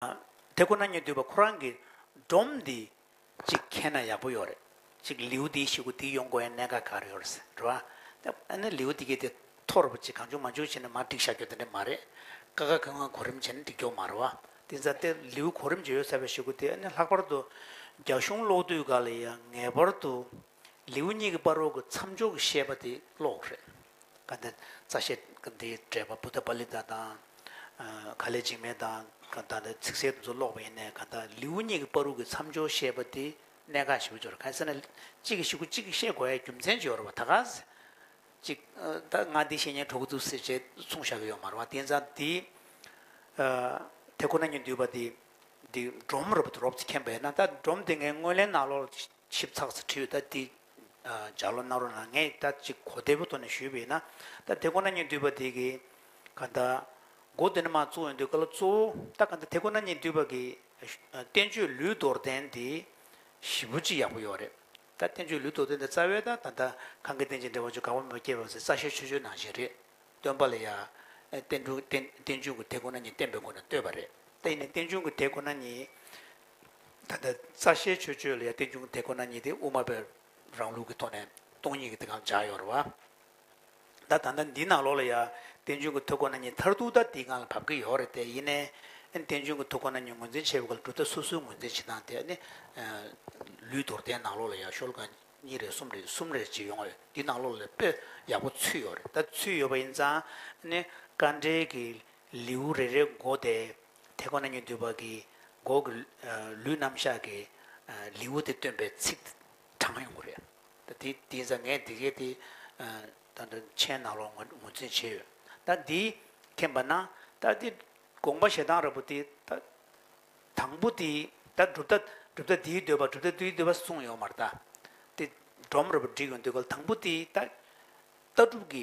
དེ་ཁོ་ན་ཉིད་འདུས་པ་ཁོ་རང་གི་སྒྲོམ་འདི་གཅིག་མཁྱེན་ན་ཡག་པོ་ཡོད་རེད། གཅིག་ལེའུ་འདིའི་ཞུ་སྒོ་འདི་ཡོང་དགོས་ཡ་གནད་འགག་ག་རེ་ཡོད་རེད་ཟེར་བ། ཨ་ནི་ལེའུ་འདི་གས་དེ་ཐོག་རེ་བོ་གཅིག་གང་བྱུང་མ་བྱུང་བྱས་ནས་མར་བསྒྲིགས་བཞག་རྒྱུ་དེ་འདྲ་མ་རེད། ཀ་ཁ་གི་སྔོན་གོ་རིམ་བྱས་ནས་བསྒྲིགས་རྒྱུ་མ་རེད་བ། དེ་ཚ་དེ་ལེའུ་གོ་རིམ་བྱས་ཡོད་ཟེར་བའི་ཞུ་སྒོ་དེ་ཨ་ནི་ལྷག་པར་དུ་རྒྱ་གཞུང་གློག་རྡུལ་འགའ་ལ་ཡང་ངེས་པར་དུ་ལེའུ་གཉིས་ཀྱི་པར་རོ་གི་མཚམས་སྦྱོར་གྱི་བཤད་པ་དེ་ཀློག་རེད། ག་འདི་རྩ་བཤད་གི་འདིའི་འགྲེལ་པ་བུདྡྷ་པཱ་ལི་ཏཱ་དང། ག་ལས་འཇིགས་མེད་དང་ག་ད་ནི་ཚིག་གསལ་དུ་ཚོ་ཀློག་པ་ཡིན་ནས་ག་ད་ལེའུ་གཉིས་ཀྱི་པར་རོ་གི་མཚམས་སྦྱོར་བཤད་པ་དེ་གནད་འགག་ཞིག་སྦྱོར་ག་ཟེར་ན་གཅིག་གིས་ཞུ་གུ་གཅིག་གིས་བཤད་དགོས་ཡའི་རྒྱུ་མཚན་སྦྱོར་བ་ད་ག་ཟེ། གཅིག་ད་ང་འདི་བཤད་ཉན་གྲོགས་གི་འདུག་ཟེ་བྱས་གསུངས་བཞག་གི་ཡོག་མ་རེད་བ་དེ་ཛ་དེ། དེ་ཁོ་ན་ཉིད་འདུས་པ་དེ་འདི་སྒྲོམ་རུ་པ་དུ་རོབ་ཙི་ཁེན་པ་ཡིན་ན་ད་སྒྲོམ་དེ་ངའི་དངོས་ལེན་ནང་ལོགས་ཆིབས་ཚགས་སུ་བྲིས་ཡོད་ད་འདི། ཇག་ལོ་རྣ་རོ་ན་ངས་ད་ཅིག་གོ་བདེ་པོ་ཐོག་ནས་ཞུས་པ་ཡིན་ན། ད་དེ་ཁོ་ན་ཉིད་འདུས་པ་དེ་གི། ཀ་ད། མགོ་བདེ་ན་མ་གཙོ་བོ་འདུས་ཀ་ལོ་གཙོ་བོ། ད་ཀ་ད་དེ་ཁོ་ན་ཉིད་འདུས་པ་གི། བསྟན་བཅོས་ལུས་རྡོར་གདན་དེ། ཞི་བོ་ཅི་ཡག་པོ་ཡོད་རེད། ད་བསྟན་བཅོས་ལུས་རྡོར་གདན་དེ་རྩ་བའི་ད་ད་ད། གང་གི་རྟེན་ཅིང་འབྲེལ་བ་ཆོས་དགའ་བོ་མོས་བསྐྱེད་པ་ཚེ་རྩ་ཤེར་ཆོས་ཆོས་ནང་བཞིན་རེད། སྟོན་པ་ལ་ཡ། བསྟན་བཅོས་ཀྱི་དེ་ཁོ་ན་ཉིད་བསྟན་པའི་སྒོ་ནས་བསྟོད་པ་རེད། ད་ཡིན་ནས་བསྟན་བཅོས་ཀྱི་དེ་ཁོ་ན་ཉིད། ད་ལྟ་རྩ་ཤེའི་ཆོས་སྤྱོད་ལ་ཡང་ཏིང་འབྱུང་དེ་ཁོ་ན་ཉིད་དེ་དབུ་མ་པའི་རང་ལུགས་ཀྱི་ཐོག་ནས་སྟོང་ཉིད་ཀྱི་དེ་གང་བྱ་ཡོང་རེ་བ། ད་ད་ལྟ་འདིའི་ནང་ལོགས་ལ་ཡང་ཏིང་འབྱུང་གི་ཐུགས་ཁོ་ན་ཉིད་མཐར་ཐུག་ད་འདིའི་སྒང་ལ་བབས་ཀྱི་ཡོད་རེ་བལྟས་ཡིན། ཨེ་ཏིང་འབྱུང་གི་ཐུགས་ཁོ་ན་ཉིད་ངོས་འཛིན་བྱེད་པའི་སྐོར་ལ་གྲུབ་མཐའ་སོ་སོའི་ངོས་འཛིན་བྱེད་སྟངས་དེ་ནི། ལུས་དོར་ལྡན་ནང་ལོགས་ལ་ཡང་ཤོལ་གང་གཉིས་རེ་གསུམ་རེ་གསུམ་རེ་བྱེད་ཡོང་ཡོད་འདིའི་ནང་ལོགས་ལ་དཔེ་ཡག་པོ་ཚུད་ཡོད་རེད་ད་ཚུད་ཡོད་པ་ཡིན་ཙང། ནི། དཀའ་འགྲེལ་གྱི་ལེའུ་རེ་རེའི་མགོ་དེ་དེ་ཁོ་ན་ཉིད་འདུས་པ་གིས་མགོ་གི་ལུས་རྣམ་གཞག་གི་ལེའུ་སྟེ་སྟོན་པའི་ཚིག་གྲངས་ཡོང་གི་རེད། ད་དེ་དེ་ཟ་ངས་དེ་གས་དེ། ད་འདི་མཆན་ནང་ལོག་ངོ་འཛིན་བྱས་ཡོད། ད་འདིས་མཁྱེན་པ་ན་ད་དེ་དགོངས་པ་ཞེ་སྡང་རབ་བུ་དེ་ད། དང་པོ་དེ་ད་སྒྲུབ་ཐབས་སྒྲུབ་ཐབས་དེའི་འདོད་པ་སྒྲུབ་ཐབས་དེའི་འདོད་པ་གསུངས་ཡོད་མ་རེད་ད། དེ་སྒྲོམ་རབ་བུ་བསྒྲིགས་ཡོང་དུས་ཀ་ལ་དང་པོ་དེ་ད། ལྟ་གྲུབ་ཀྱི་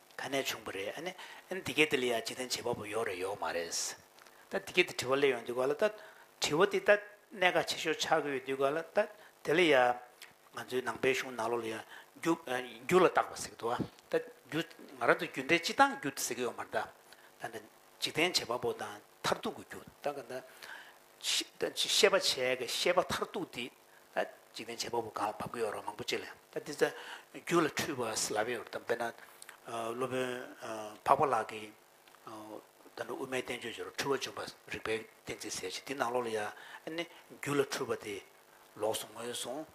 ག་ནས་བྱུང་བ་རེད་ཨ་ནི་ཨན་འདི་གས་དེ་ལ་ཡ་ཇི་ཐན་བྱེད་པ་པོ་ཡོག་རེད་ཡོག་མ་རེད་ད་འདི་གས་དེ་དྲི་བ་ལས་ཡོང་དུས་ག་ལ་ད་དྲི་བ་དེ་ད་གནད་འགག་ཆེ་ཤོས་ཆགས་ཀྱི་ཡོད་དུས་ག་ལ་ད་དེ་ལ་ཡ་ང་ཚོའི་ནང་པའི་གཞུང་ནག་ལོ་ལ་ཡ་རྒྱུ་རྒྱུ་ལ་བཏགས་པ་ཟེར་གི་འདུག་ད་རྒྱུ་ང་རང་ཚོ་རྒྱུ་འབྲས་སྤྱི་བཏང་རྒྱུ་ཟེར་གི་ཡོག་མ་རེད་ད་ད་འདྲ་འཇིག་རྟེན་བྱེད་པ་པོ་དང་མཐར་ཐུག་གི་རྒྱུ་ད་ག་ད་ཤེས་པ་བྱས་ཀྱི་ཤེས་པ་མཐར་ཐུག་དེ། འཇིག་རྟེན་བྱེད་པ་པོ་གང་བབ་ཀྱི་ཡོད་རུང་མང་པོ་ཅི་ལས། ད་འདི་ཚོ་རྒྱུད་ལ་འཁྲུལ་བ་སེལ་བའི་ཡོད་དམ་དཔེར་ན། སློབ་དཔོན་འཕགས་པ་ལགས་ཀྱིས། ད་ནི་དབུ་མའི་བསྟན་བཅོས་ཇོ་རུ་འཁྲུལ་བ་འབྱུང་བ་རིག་པའི་གཏན་ཚིགས་ཟེར་ཞིང་དེའི་ནང་ལོགས་ལ་ཡང། རྒྱུད་ལ་འཁྲུལ་བ་དེ། ལོགས་སུ་ངོས་བཟུང།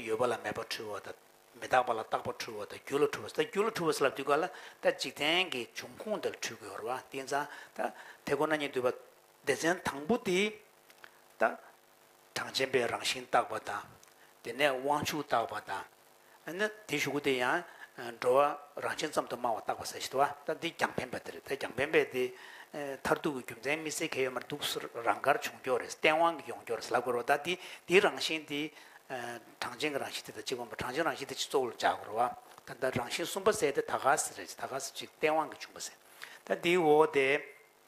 ཡོད་པ་ལ་མེད་པར་འཁྲུལ་བ་དང། མི་རྟག་པ་ལ་རྟག་པར་འཁྲུལ་བ་དང་རྒྱུད་ལ་འཁྲུལ་བ་ཟེར། ད་རྒྱུད་ལ་འཁྲུལ་བ་སེལ་བ་འདི་ག་ལ། ད་འཇིག་རྟེན་གྱི་འབྱུང་ཁུངས་དེ་ལ་འཁྲུལ་གྱི་ཡོད་རུང་བ་དེ་ཡིན་ཙང། ད་དེ་ཁོ་ན་ཉིད་འདུས་པ། སྡེ་ཚན་དང་པོ་དེ། དང། གྲངས་ཅན་པའི་རང་བཞིན་བརྟག་པ་དང། དེ་ནས་དབང་ཕྱུག་བརྟག་པ་དང། ནི། དེ་ཞུ་གུ་དེ་ཡང། འགྲོ་བ་རང་བཞིན་ཙམ་དུ་སྨྲ་བ་བརྟག་པ་ཟེར་ཞེས་བ། ད་འདི་རྒྱང་འཕེན་པ་དེ་རེད་ད་རྒྱང་འཕེན་པས་དེ། མཐར་ཐུག་གི་རྒྱུ་མཚན་མི་སེལ་མཁན་ཡོད་མར་འདུག་རང་དགར་བྱུང་འགྱོགས་རེད་སྟེས་དབང་གིས་ཡོང་འགྱོགས་རེད་ལབ་དགོས་རོགས་ད་འདི་འདི་རང་བཞིན་དེ། གྲངས་ཅན་གྱི་རང་བཞིན་དེ་དང་གཅིག་མ་འབོ་གྲངས་ཅན་རང་བཞིན་དེ་གཅིག་གཙོ་བོ་ལ་འཇགས་དགོས་རོགས་བ། ད་ད་རང་བཞིན་གསུམ་པ་ཟེར་དེ་ད་ག་ཟེ་རེད་ད་ག་ཟེ་གཅིག་སྟེས་དབང་གིས་བྱུང་བ་ཟེར། ད་འདིའི་འོག་དེ།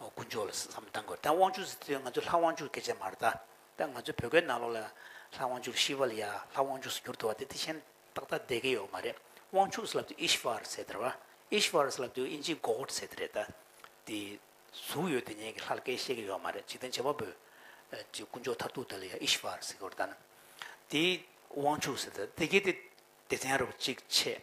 དཀོན་མཆོག་ལ་བསམ་བློ་གཏང་དགོས་རེད་ད་དབང་ཕྱུག་ཟེར་དུས་ང་ཚོ་ལྷ་དབང་ཕྱུག་སྐད་ཆ་མ་རེད་ད་ད་ང་ཚོ་བོད་སྐད་ནང་ལོགས་ལ་ལྷ་དབང་ཕྱུག་ཤི་བ་ལ་ཡ་ལྷ་དབང་ཕྱུག་སུ་འགྱུར་འདུག་བ་དེ་དེ་བཞིན་ཏག་ཏག་བསྡད་ཀྱི་ཡོད་མ་རེད་དབང་ཕྱུག་ཟེར་ལབ་དུས Ishvar ཟེར་དེར་བ Ishvar ཟེར་ལབ་དུས་ཨིན་ཇིའི God ཟེར་དེ་རེད་ད་དེ་གཟུགས་ཡོད་དེ་ཉན་གྱི་ལྷ་ལ་སྐད་བཤད་ཀྱི་ཡོད་མ་རེད་འཇིག་རྟེན་བྱེ་བ་པོའི་ཀྱི་དཀོན་མཆོག་མཐར་ཐུག་དེ་ལ་ཡ Ishvar ཟེར་དགོས་རེད་ད་ནི་དེ་དབང་ཕྱུག་ཟེར་དེ་དེ་གལ་ཏེ་སྡེ་ཚན་རུ་གཅིག་ཆེད།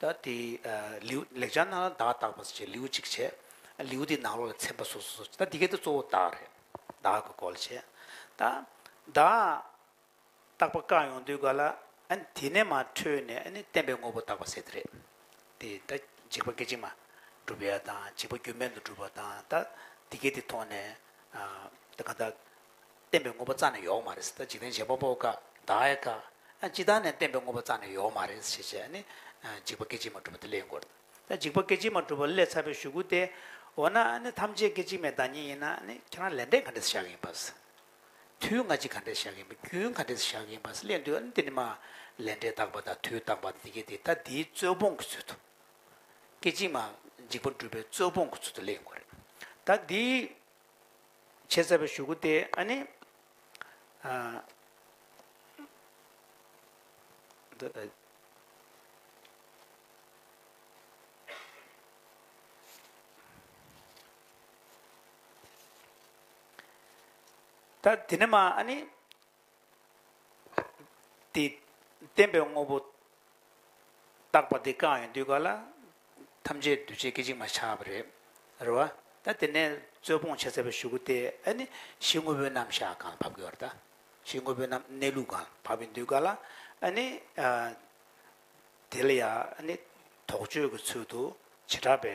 ད་དེ། ལེའུ། ལེགས་སྦྱར་ནང་ལ་བདག་བཏགས་པ་སོགས་བྱས་ལེའུ་གཅིག་བྱས། ལེའུ་དེའི་ནང་ལོགས་ལ་མཚན་པ་སོ་སོ་སོགས་བྱས་ད་འདི་གའི་དོན་གཙོ་བོ་བདག་རེད། བདག་གི་སྐོར་ལ་བྱས། ད། བདག། བཏགས་པ་བཀག་ཡོང་དུས་ག་ལ། དེ་ནས་མ་འཕྲོས་ནས་ནི་བསྟན་པའི་དངོས་པོ་བཏགས་པ་བསལ་དེ་རེད། དེ་ད་འཇིག་པ་སྐད་ཅིག་མ། བསྒྲུབ་པའི་ཡ་དང་འཇིག་པ་རྒྱུ་མེད་དུ་བསྒྲུབ་པ་དང་ད། འདི་གའི་དེ་མཐོང་ནས། ད་ག་ད། བསྟན་པའི་དངོས་པོ་རྩ་ནས་ཡོག་མ་རེད། འཇིག་རྟེན་བྱེད་པ་པོ་ཀ་དག་ཨེ་དཀའ། ཅི་ལྟར་ནས་བསྟན་པའི་དངོས་པོ་རྩ་ནས་ཡོག་མ་རེད་ཞེས་བྱས་ནི། འཇིག་པ་སྐད་ཅིག་མ་གྲུབ་པ་དེ་སླའི་འགོར། འཇིག་པ་སྐད་ཅིག་མ་གྲུབ་པ་སླའི་ཚ་བའི་ཞུ་སྐུལ་ཏེ། འོ་ན་ཐམས་ཅད་སྐད་ཅིག་མའི་བདག་ཉིད་ཡིན་ན་ཁྱེད་རང་ལས་འབྲས་ག་འདྲས་བཞག་གིན་པ། དུས་སྔ་ཕྱི་ག་འདྲས་བཞག་གིན་པ་རྒྱུན་ག་འདྲས་བཞག་གིན་པ་སླའི་འདུལ་བ་འདི་ནི་མ། ལས་འབྲས་བརྟག་པ་དང་དུས་བརྟག་པ་འདི་གཉིས་དེ་ད་དེའི་རྩོད་སྤོང་གི་ཚུལ་དུ། སྐད་ཅིག་མ་འཇིག་པ་འགྲུབ་པའི་རྩོད་སྤོང་གི་ཚུལ་དུ་སླའི་འགོར། ད་དེའི། བྱས་ཟེར་བ་ཞུ་གི་དེ་ཨ་ནི། ད་དེ་ནི་མ་ཨ་ནི། དེས་བསྟན་པའི་དངོས་པོ་བརྟགས་པ་དེ་གང་ཡིན་དུས་ག་ལ་ཐམས་ཅད་འདུས་བྱས་སྐད་ཅིག་མ་ཆགས་པ་རེད། རེད་བ། ད་དེ་ནས་རྩོད་སྤོང་བྱས་ཚར་བའི་ཞུ་གུ་དེས་ཨ་ནི་གཞི་དངོས་པོའི་རྣམ་གཞག་གང་ལ་བབ་དགོས་བར་ད། གཞི་དངོས་པོའི་རྣམ་གནས་ལུགས་གང་ལ་བབ་ཡིན་དུས་ག་ལ་ཨ་ནི། དེ་ལ་ཡང་ཨ་ནི་དོགས་གཅོད་ཀྱི་ཚུལ་དུ་བྱེ་བྲག་པའི་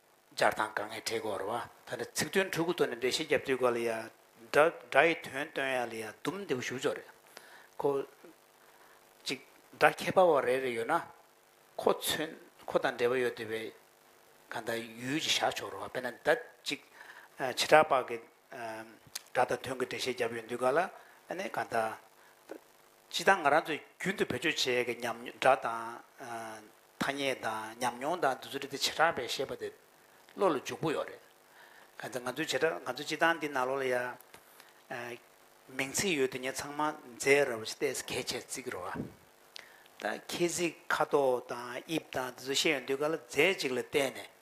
སྦྱར་དང་དགག་ངེས་འབྲེལ་གོ་རུ་བ། ད་ནི་ཚིག་དོན་དྲུག་གི་ཐོག་ནས་འགྲེལ་བཤད་རྒྱབ་དུས་ག་ལ་ཡ། སྒྲ་སྒྲ་ཡི་དོན་སྟོན་ཡ་ལ་ཡ་ཟླུམ་འདི་པོ་ཞུགས་ཆོག་རེད། ཁོ། ཅིག། སྒྲ་ཁྱད་པར་བ་རེ་རེ་ཡོད་ན། ཁོ་མཚོན། ཁོ་དང་འབྲེལ་བ་ཡོད་དུས་པའི། ག་ད་ཡུལ་གྱིས་བཞག་ཆོག་རུ་བ་དཔེར་ན་ད། ཅིག། བྱེ་བྲག་པགས་ཀྱི། སྒྲ་དང་དོན་གྱི་འགྲེལ་བཤད་རྒྱབ་ཡོད་དུས་ག་ལ། ནི་ག་ད། ད། ཅི་ད་ང་རང་ཚོས་རྒྱུན་དུ་བེད་སྤྱོད་བྱེད་ཀྱི་ཉམས་མྱོང་སྒྲ་དང། ཐ་སྙད་དང་ཉམས་མྱོང་དང་དུས་ཚོད་འདི་བྱེ་བྲག་པས་བཤད་པ་དེ་བློ་ལ་འཇུག་པོ་ཡོད་རེད། གལ་ཏེ་ང་ཚོའི་བྱེ་བྲག་ང་ཚོའི་སྤྱི་བཏང་འདི་ནག་ལོ་ལ་ཡ། མིང་ཚིག་ཡོད་དུས་ངས་ཚང་མ་མཛེས་ར་བ་ཞིག་བལྟས་ཟེར་གལ་ཆེར་བརྩིགས་རོགས་ཨ། ད་ཁྱེད་གཟིགས་ཁ་དོག་དང་དབྱིབས་དང་དེ་ཚོ་ཤེས་ཡོད་འདུག་ག་ལ་རྫས་གཅིག་ལ་བལྟས་ནས་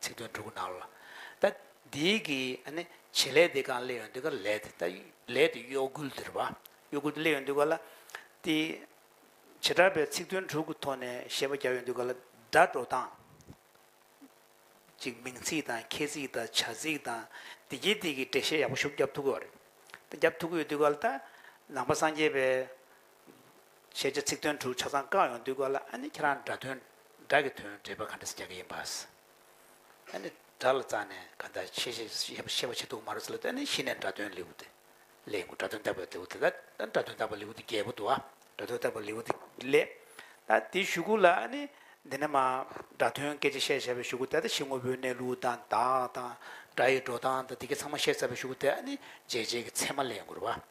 ཚིག་དོན་དྲུག་གནང་ལ། ད་འདིའི་གི་བྱེད་ལས་དེ་གང་གླེ་ཡོན་དུ་ག་ལས་དེ་ད་ལས་དེ་གཡོ་འགུལ་དེར་བ། གཡོ་འགུལ་དེ་གླེ་ཡོན་དུ་ག་ལ། དེ་བྱེ་བྲག་པའི་ཚིག་དོན་དྲུག་གི་ཐོག་ནས་བཤད་པ་རྒྱག་ཡོན་དུ་ག་ལ་སྒྲ་སྒྲོག་སྟངས། གཅིག་མིང་ཚིག་དང་ཁྱད་ཚིག་དང་བྱ་ཚིག་དང་དེ་བརྒྱད་དེ་གི་འགྲེལ་བཤད་ཡག་པོ་ཤུགས་རྒྱབ་ཐུབ་གི་བ་རེད། ད་རྒྱབ་ཐུབ་གི་ཡོད་དུ་ག་ལ་ད་ནང་པ་སངས་རྒྱས་པའི། ཞེས་བྱ་ཚིག་དོན་དྲུག་ཆ་ཚང་བཀག་ཡོང་དུས་གོ་ལ་ཨ་ནི་ཁྱེད་རང་སྒྲ་དོན་སྒྲ་གི་དོན་འགྲེལ་པ་ག་འདྲ་ཟེར་རྒྱག་གི་ཡིན་པཱ། ཨ་ནི་སྒྲ་ལ་རྩ་ནས་ག་འདྲ་ཤེས་ཤེས་ཤེས་པ་ཤེས་པ་ཤེས་འདུག་མ་རོ་ཟེར་ལ་ཨ་ནི་གཞི་ནས་སྒྲ་དོན་ལེའུ་སྟེ་ལས་དགུ་སྒྲ་དོན་བརྟག་པའི་ལེའུ་སྟེ་ད་ཨ་སྒྲ་དོན་བརྟག་པའི་ལེའུ་སྟེ་བརྒྱད་པོ་འདུག་ཨ། སྒྲ་དོན་བརྟག་པའི་ལེའུ་སྟེ་ལས། ད་དེའི་ཞུ་གུ་ལ་ཨ་ནི་འདི་ནས་མ་སྒྲ་དོན་སྐད་ཅིག་བཤད་བྱ་བའི་ཞུ་གུ་སྟེ་ད་གཞི་དངོས་པོའི་གནས་ལུགས་དང་བདག་དང་སྒྲ་ཡི་འགྲོ་སྟངས་དང་དེ་སྐད་ཚང་མ་བཤད་ཚར་བའི་ཞུ་གུ་སྟེ་ཨ་ནི་འཇལ་བྱེད་ཀྱི་ཚད་མ་ལས་དགུར་བ།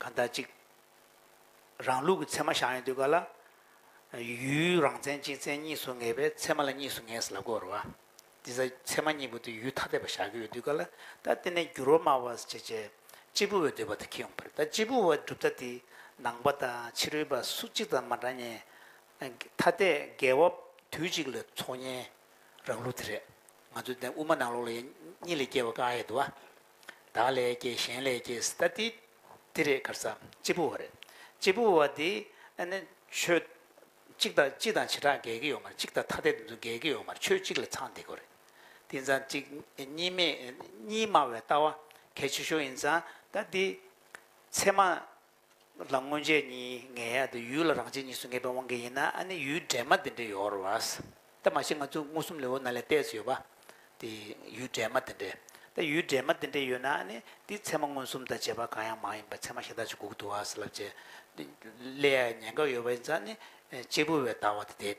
ག་ཟླ་གཅིག། རང་ལུགས་ཀྱི་ཚད་མ་ཞག་ཡིན་དུས་ག་ལ། ཡུལ་རང་མཚན་གཅིག་མཚན་གཉིས་སུ་ངེས་པས་ཚད་མ་ལ་གཉིས་སུ་ངེས་ལ་བསྐོར་བ། དེ་ཚ་ཚད་མ་གཉིས་པོ་དེ་ཡུལ་ཐ་དད་པ་ཞག་གི་ཡོད་དུས་ག་ལ། ད་ལྟེ་ནས་འགྱུར་བ་སྨྲ་བར་བྱེད་ཅེས། གཅེར་བུ་བའི་འདོད་པ་དེ་ཁེ་འོང་བར་ད་གཅེར་བུ་བའི་གྲུབ་མཐའ་དེ། ནང་པ་དང་ཕྱི་རོལ་པ་སུ་གཅིག་དང་མ་འདྲ་ཉེ། ཐ་དད་འགལ་བ་དུས་གཅིག་ལ་འཚོགས་ཉེན། རང་ལུགས་དེ་རེད། ང་ཚོའི་དེ་དབུ་མ་ནང་ལོགས་ལ་ཡེ་གཉིས་ལས་སྐྱེ་བ་ཀ་ཨའི་དུ་བ། བདག་ལས་སྐྱེས་གཞན་ལས་སྐྱེས་སྟ་སྟེ། འདི་རེས་གར་ཚང་གཅིག་པུ་བ་རེད། གཅིག་པུ་བ་འདི་ནི་ཆོས། གཅིག་དང་སྤྱི་དང་བྱེ་བྲག་འགལ་གྱི་ཡོད་མ་རེད་གཅིག་དང་ཐ་དད་དུ་འདུ་འགལ་གྱི་ཡོད་མ་རེད་ཆོས་གཅིག་ལ་ཚང་འདི་དགོས་རེད། དེ་ཚང་གཅིག་གཉིས་མེད་གཉིས་སྨྲ་བའི་ལྟ་བ་གལ་ཆེ་ཤོས་ཡིན་ཙང་ད་འདི། ཚད་མ། ལ་མངོན་བྱས་གཉིས་ངེས་ཡ་དེ་ཡུལ་ལ་རང་བྱས་གཉིས་སུ་ངེས་པའི་དབང་གིས་ཡིན་ན་ཨ་ནི་ཡུལ་འདྲེས་མ་དེ་འདྲས་ཡོར་བ། ད་མ་ཤི་ང་ཚོ་མངོན་སུམ་ལས་འོ་ན་ལས་གཏད་སུ་ཡོད་པ། དེ་ཡུལ་འདྲེས་མ་དེ་འདྲས། ད་ཡུལ་འདྲེས་མ་དེ་འདྲས་ཡོད་ན་ཨ་ནི་དེའི་ཚད་མ་མངོན་སུམ་དང་བྱེད་པ་གང་ཡང་མ་ཡིན་པར་ཚད་མ་ཤ་སྟག་ཅིག་གུག་ཏུ་བ་སླབ་བྱེད། ལས་ཡ་ཉེན་ཁ་ཡོད་པ་ཡིན་ཙང་ནི་གཅེར་བུ་བས་ད་བ་དེ་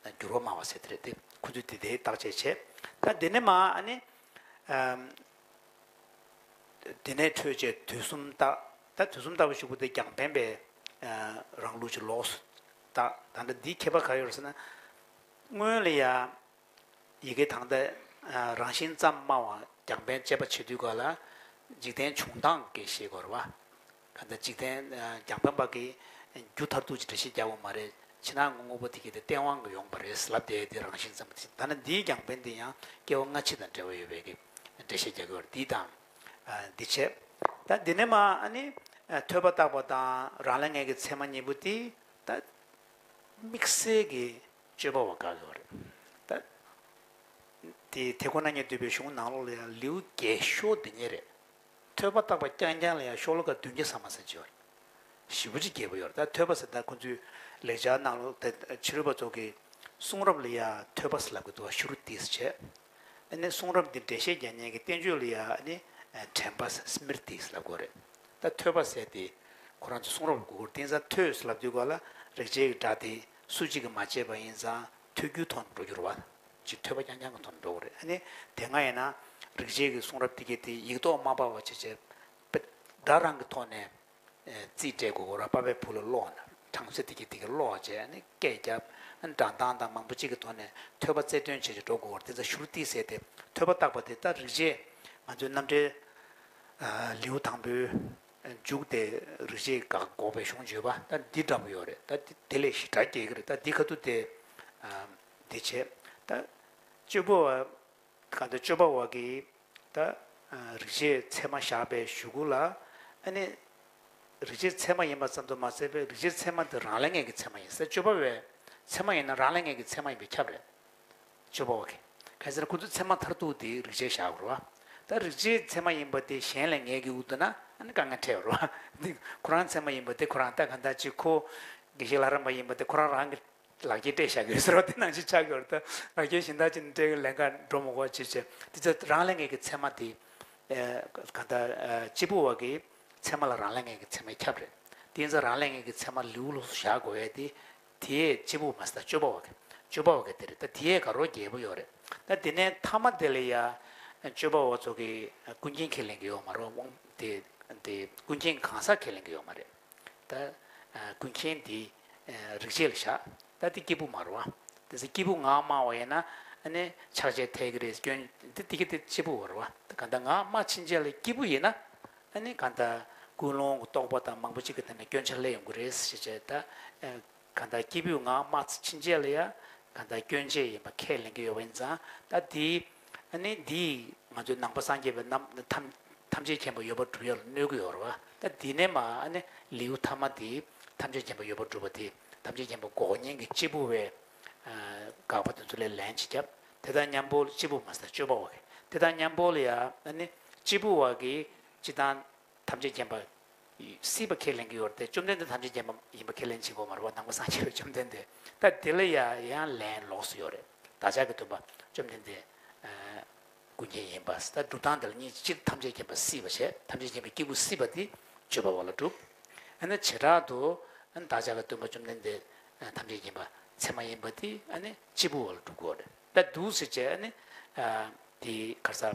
དེ་འགྱུར་བ་མང་བ་ཟེར་དེ་རེད་དེ་ཁོ་ཚོས་དེ་དེའི་བརྟག་དཔྱད་བྱེད། ད་དེ་ནི་མ་ཨ་ནི། དེ་ནས་འཕྲོས་བཅས་དུས་གསུམ་བརྟག། ད་དུས་གསུམ་བརྟག་པའི་ཆོས་སྐུ་དེ་རྒྱང་འཕེན་པས། རང་ལུགས་ཀྱི་ལོགས་སུ་བརྟག། ད་ལྟ་འདིའི་ཁྱད་པར་ག་ཡོད་ཟེར་ན། སྔོན་ལ་ཡང་ཡི་གེ་དང་ལྟ། རང་བཞིན་ཙམ་སྨྲ་བ་རྒྱང་འཕེན་དཔྱད་པ་བྱེད་དུས་ག་ལ། འཇིག་རྟེན་བྱུང་སྟངས་ཀྱི་ཤེས་སྒོར་བ། ཁ་ཟླ་གཅིག་ཐེངས་རྒྱང་འཕེན་པ་གིས། རྒྱུ་མཐར་ཐུག་ཅིག་འདྲ་ཤེས་རྒྱག་པ་མ་རེད། ཕྱི་ནང་གི་དངོས་པོ་དེ་གཉིས་དེ་སྟེས་དབང་གིས་ཡོང་བ་རེད་ཟེར་ལབ་བསྡད་དེ་རང་བཞིན་ཙམ་གྱིས་ཟིན་ཐ་ན་འདིའི་རྒྱང་འཕེན་འདི་ཡང་སྐྱེ་བ་སྔ་ཕྱི་དང་འབྲེལ་བ་ཡོད་པས་ཀི། འགྲེལ་བཤད་རྒྱག་གི་བར་འདི་དང། འདི་བྱས། ད་འདི་ནས་མ་ནི། ཐོས་པ་བརྟགས་པ་དང་རང་ལས་ངེས་ཀྱི་ཚད་མ་གཉིས་པོ་དེ། ད། དམིགས་བསལ་གྱི་དཔྱོད་པ་བ་དགག་གི་བ་རེད། ད། དེ་ཁོ་ན་ཉིད་འདུས་པའི་གཞུང་ནང་ལོགས་ལ་ཡང་ལེའུ་བརྒྱད་ཤོ་དེ་ཉིད་རེད། ཐོད་པ་བཏགས་པ་རྐྱང་རྐྱང་ལ་ཡང་ཤོག་ལོ་ཀ་བདུན་བརྒྱ་ཟ་མ་ཟེར་བྱས་བ་རེད། ཞི་བུ་ཅིག་རྒྱལ་པོ་ཡོད་རེད་ད་ཐོད་པ་ཟེར་ད་ཁོང་ཚོས་ལེགས་སྦྱར་གནང་ལུགས་དེ་ཕྱི་རོལ་པ་ཚོ་གི་གསུང་རབ་ལ་ཡང་ཐོད་པ་ཟེར་ལབ་གི་འདུག་ཤུ་རུ་ཏིས་བྱས། ཨ་ནི་གསུང་རབ་འདི་འགྲེལ་བཤད་རྒྱ་སྙན་གྱི་བསྟན་བཅོས་ལ་ཡང་ཨ་ནི་དྲན་པ་ཟེར Smriti ཟེར་ལབ་དགོས་རེད་ད་ཐོད་པ་ཟེར་དེ་ཁོ་རང་ཚོས་གསུང་རབ་ལ་གུ་གུར་ཏིང་ས་ཐོད་ཟེར་ལབ་དུས་ག་ལ་རེག་བྱས་ཀྱི་སྒྲ་དེ་སུ་གཅིག་གིས་མ་བྱས་པ་ཡིན་ཙང་ཐོད་རྒྱུའི་ཐོག་ནས་འགྲོ་རྒྱུར་བ། ཅིག་ཐོས་པ་ཡང་ཡང་གི་དོན་འགྲོ་བ་རེད་ཨ་ནི་དེ་སྔ་ཡིན་ན་རིག་བྱེད་ཀྱི་གསུང་རབ་འདི་གས་དེ་ཡིག་ཐོག་མ་པ་བ་ཆེ་ཆེ་སྒྲ་རང་གི་ཐོག་ནས་རྩིས་སྤྲད་དགོས་གོ་ར་པ་པའི་བུ་ལ་ཀློག་ན་གྲངས་ཚོད་འདི་གས་དེ་གས་ཀློག་བྱས་ཨ་ནི་སྐད་བརྒྱབ་སྒྲ་འདང་དང་མང་པོ་ཅིག་གི་ཐོག་ནས་ཐོས་པ་རྩལ་འདོན་བྱས་བྱས་འགྲོ་དགོས་བར་དེ་ཚ་ཞུར་ཏིག་ཟེར་དེ་ཐོས་པ་བཏགས་པ་དེ་ལྟར་རིག་བྱེད་ང་ཚོའི་རྣམ་འགྲེལ་ལེའུ་དང་པོའི་མཇུག་དེ་རིག་བྱེད་དགག་འགོག་པའི་གཞུང་བརྗོད་པ་ད་འདི་འདྲ་པོ་ཡོད་རེད་ད་དེ་ལས་ཞི་དྲག་རྒྱས་ཀྱི་རེད་ད་འདི་ཁ་ཐུག་དེ། འདི་བྱེད། ད། སྤྱོད་པོ། གང་དུ་སྤྱོད་པ་བ་གི། ད། རིག་བྱེད་ཚད་མ་བཞག་པའི་གཞུག་གུ་ལ། ཨ་ནི། རིག་བྱེད་ཚད་མ་ཡིན་པ་ཙམ་དུ་མ་ཟད་པའི་རིག་བྱེད་ཚད་མ་དེ་རང་ལས་ངེས་ཀྱི་ཚད་མ་ཡིན་སྲིད་སྤྱོད་པ་བའི། ཚད་མ་ཡིན་ན་རང་ལས་ངེས་ཀྱི་ཚད་མ་ཡིན་པས་ཁྱབ་རེད། སྤྱོད་པོ་བ་གི། གལ་སྲིད་ཁོ་ཚོའི་ཚད་མ་མཐར་ཐུག་དེ་རིག་བྱེད་བཞག་རུ་བ། ད་རིག་བྱེད་ཚད་མ་ཡིན་པ་དེ་གཞན་ལས་ངེས་ཀྱི་འུ་དུ་ན་ཨ་ནི་དཀའ་ངལ་འཕྲད་རུ་བ། འདི་ཁོ་རང་ཚད་མ་ཡིན་པ་དེ་ཁོ་རང་ལྟ་ག་ད་ཅི་ཁོ། དགེ་བཤེས་ལྷ་རམས་པ་ཡིན་པ་དེ་ཁོ་རང་རང་གི། ལག་སྐྱེས་སྤྲད་བཞག་གི་ཟེར་བ་དེ་ནང་བཞིན་ཆགས་ཀྱི་བར་དུ་ལག་སྐྱེས་གཞན་དག་ཅིག་ནས་སྤྲད་གི་ལན་འགའ་འགྲོ་མི་གོ་ཅེས་བྱས། དེ་ཚེ་རང་ལས་ངེས་ཀྱི་མཚན་མ་དེ། གང་ལྟར་སྤྱིལ་བུ་བ་གི་མཚན་མ་ལ་རང་ལས་ངེས་ཀྱི་མཚན་མའི་ཁྱབ་རེད། དེ་ཡིན་ཚེ་རང་ལས་ངེས་ཀྱི་མཚན་མ་ལེའུ་ལོགས་སུ་བཞག་དགོས་བས་ཏེ། དེས་སྤྱིལ་བུ་མ་ཟད་ད་སྤྱོད་པ་བ་གི། སྤྱོད་པ་བ་གི་དེ་རེད་ད་དེས་ག་རོ་བརྒྱད་པོ་ཡོད་རེད་ད། དེ་ནས་ཐ་མ་དེ་ལ་ཡང། སྤྱོད་པ་བ་ཚོ་གི་ཀུན་མཁྱེན་ཁས་ལེན་གྱི་ཡོད་མ་རོ། དེ། ཀུན་མཁྱེན་གང་ཟག་ཁས་ལེན་གྱི་ཡོད་མ་རེད། ད་ཀུན་མཁྱེན་འདིའི་རིག་བྱེད་ལ་བཞག་ད་འདི་སྐྱེས་བུ་མ་རུང་བ། དེ་ཚེ་སྐྱེས་བུ་ངག་སྨྲ་བ་ཡིན་ན་ནི་ཕྱག་རྒྱ་འཐད་ཀྱི་རེད་སྐྱོན་འདི་འདི་སྐད་དེ་སྐྱེས་བུ་རུང་བ། ད་གང་ལྟར་ངག་སྨྲ་ཕྱིན་ཆད་ལ་སྐྱེས་བུ་ཡིན་ན་ནི་གང་ལྟར་ཀུན་སློང་གི་རྟོག་པ་དང་མང་པོ་གཅིག་གི་ཐད་ནས་སྐྱོན་ཆ་ལས་ཡོང་གི་རེད་ཞེས་བྱས་ད། གང་ལྟར་སྐྱེས་བུའི་ངག་སྨྲ་ཚིག་ཕྱིན་ཆད་ལ་ཡང་གང་ལྟར་སྐྱོན་ཅན་ཡིན་པ་ཁས་ལེན་གྱི་ཡོད་པ་ཡིན་ཙང་ད་དེ་ནི་འདིས་ང་ཚོའི་ནང་པ་སངས་རྒྱས་པའི་རྣམས་ཐམས་ཅད་མཁྱེན་པ་ཡོད་པར་སྒྲུབ་ཡ་ལ་གནོད་ཀྱི་ཡོད་རེད་བ་ད་འདི་ནས་མ་ལེའུ་ཐ་མ་དེ་ཐམས་ཅད་མཁྱེན་པ་ཡོད་པར་སྒྲུབ་པ་དེ་ཐམས་ཅད་མཁྱེན་པ་འགོག་ཉེན་གྱི་སྐྱེས་བུ་བས་དགག་པ་དེ་ཚོ་ལས་ལན་ཅིག་བརྒྱབ་དེ་དང་མཉམ་པོ་ལ་སྐྱེས་བུ་མ་ཟད་སྤྱོད་པ་བ་གི་དེ་དང་མཉམ་པོ་ལ་ཡང་སྐྱེས་བུ་བ་གི་སྤྱི་དང། ཐམས་ཅད་མཁྱེན་པ། སྲིད་པ་ཁས་ལེན་གྱི་ཡོད་དེ་བཅོམ་ལྡན་འདས་ཐམས་ཅད་མཁྱེན་པ་ཡིན་པ་ཁས་ལེན་བྱེད་དགོས་མ་རེད་བ་ནང་པ་སངས་རྒྱས་པའི་བཅོམ་ལྡན་འདས་ད་དེ་ལ་ཡང་ལན་ལོགས་སུ་ཡོད་རེད་བདག་ཅག་གི་འདུན་པ་བཅོམ་ལྡན་འདས་ཀུན་མཁྱེན་ཡིན་པ་ད་སྒྲུབ་སྟངས་དེ་ལ་གཉིས་སྤྱིར་ཐམས་ཅད་མཁྱེན་པ་སྲིད་པ་བྱས་ཐམས་ཅད་མཁྱེན་པའི་སྐྱེས་བུ་སྲིད་པ་དེ་སྤྱོད་པ་བ་ལ་སྒྲུབ། ཨ་ནི་བྱེ་བྲག་ཏུ་བདག་ཅག་གི་འདུན་པ་བཅོམ་ལྡན་འདས་ཐམས་ཅད་མཁྱེན་པ་ཚད་མ་ཡིན་པ་དེ་ཨ་ནི་སྐྱེས་བུ་བ་ལ་སྒྲུབ་དགོས་རེད་ད་དུ་སེ་བྱས་ཨ་ནི་དེའི་གར་ས།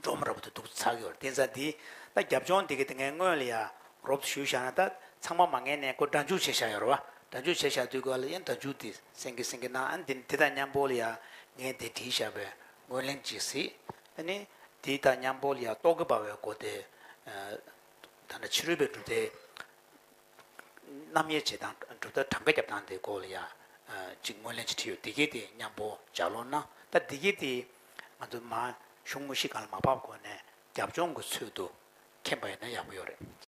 འབྲོག་མོ་ར་བུ་དེ་སྡུག་ཚགས་ཡོད་བསྟན་ས་འདི་ད་རྒྱབ་ལྗོངས་འདི་གི་དེ་ངའི་དངོས་ལ་ཡ་རོབ་ཞུས་བཞག་ན་ད་ཚང་མ་མ་ངེས་ནས་ཁོ་སྒྲ་འཇུག་བྱེད་བཞག་ཡོད་ར་བ་སྒྲ་འཇུག་བྱེད་བཞག་དུས་གོ་ལ་ཡན་སྒྲ་འཇུག་དེ་སེང་གེ་སེང་གེ་ནང་ཨ་འདི་ནི་དེ་ད་མཉམ་པོ་ལ་ཡ་ངས་དེ་བྲིས་བཞག་པས་ངོས་ལེན་གྱིས་སྲིད་ཨ་ནི་དེ་ད་མཉམ་པོ་ལ་ཡ་ཏོག་གི་འབར་བའི་སྒོ་དེ་ད་ནི་ཕྱི་རོལ་པའི་གྲུབ་མཐའི་རྣམ་དབྱེ་བྱེད་སྟངས་གྲུབ་མཐའ་གྲངས་ཀ་རྒྱབ་སྟངས་དེ་གོ་ལ་ཡ་གཅིག་ངོས་ལེན་གྱིས་བྲིས་ཡོད་དེ་གའི་དེ་མཉམ་པོ་ལྗགས་ལོགས་ན་ད་དེ་གའི་དེ། ང་ཚོ་མ་ཤུགས་མུ་བཞི་གང་ལ་མ་བབས་གོང་ནས་རྒྱབ་ལྗོངས་ཀྱི་ཚུལ་དུ་མཁྱེན་པ་ཡོད་ན་ཡག་པོ་ཡོད་རེད།